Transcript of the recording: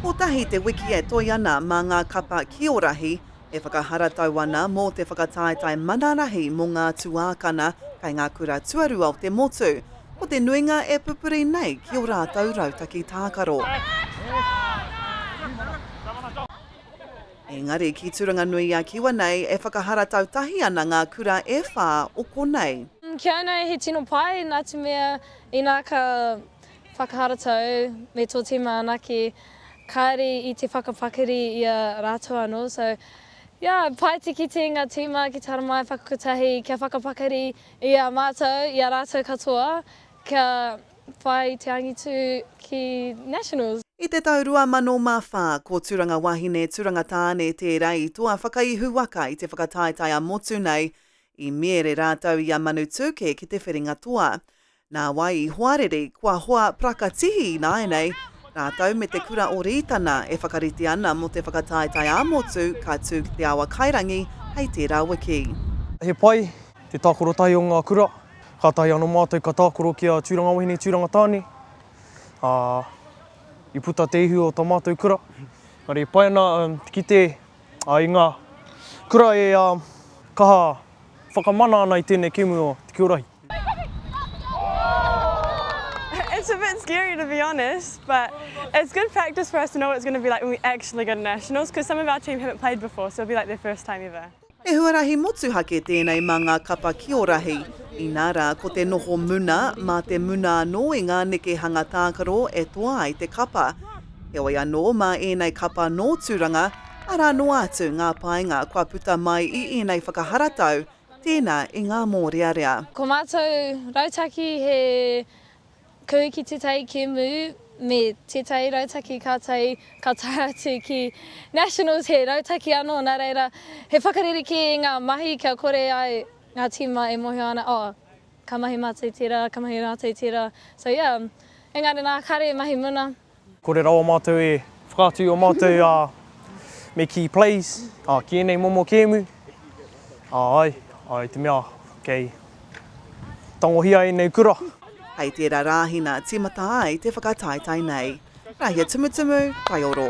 Kotahi te wiki e toe ana mā ngā kapa kiorahi e whakaharatau ana mō te whakataetae mana rahi mō ngā tuākana kei ngā kura tuarua o te motu. Ko te nuinga e pupuri nei ki o rātou rautaki tākaro. Engari ki Turanga-nui-a-Kiwa nei e whakaharatau tahi ana ngā kura e whā o konei. Kia ānei he tino pai nā te mea inā ka Whakaharatau me tō tīma anake, kāre i te whakapakari i a rātou anō, so yeah, paetikiti ngā tīma ki te haramai whakakotahi kia whakapakari i a mātou, i a rātou katoa, kia whai te angitu ki Nationals. I te tau 2004, ko Turanga Wahine, Turanga Tāne tērā i toa whakaihu waka i te whakataetae a Motu nei, i miere rātou i a Manu Tūke ki te whiringa toa. Nā wai i hoariri, kua hoa prakatihi ināianei, rātou me te kura o Rītana e whakarite ana mō te whakataetae ā-motu ka tū ki Te Awa Kairangi hei tērā wiki. He pai te tākarotai o ngā kura, kātahi anō mātou ka tākaro ki a Tūranga Wahine Tūrangatāne, ā, i puta te ihu o tā mātou kura. Engari e pai ana te kite i ngā kura e kaha whakamana ana i tēnei kēmu o Te Kiorahi. It's a bit scary to be honest, but it's good practice for us to know what it's going to be like when we actually go to nationals, because some of our team haven't played before, so it'll be like their first time ever. He huarahi motuhake tēnei mā ngā kapa ki Orahi, inā rā ko te noho muna, mā te muna anō i ngā nekehanga tākaro e toa ai te kapa. Heoi anō, mā ēnei kapa nō Tūranga, arā noa atu ngā painga kua puta mai i ēnei whakaharatau, Tēnā i ngā mōrearea. Ko mātou rautaki he kū ki te tai kēmu me tētahi rautaki kātahi ka tae atu ki Nationals he rautaki anō, nā reira he whakarerekē i ngā mahi kia kore ai ngā tīma e mōhio ana, oh, ka mahi mātou i tērā, ka mahi mātou i tērā. So yeah, engari nā, kāre e mahi muna. Kore rawa mātou e whakaatu i o mātou me kii plays ki enei momo kēmu. Aai, i te mea kei tangohia enei kura. Hei tera Rahina timata ai te whakataetae nei. Rahia Tumutumu, Taioro.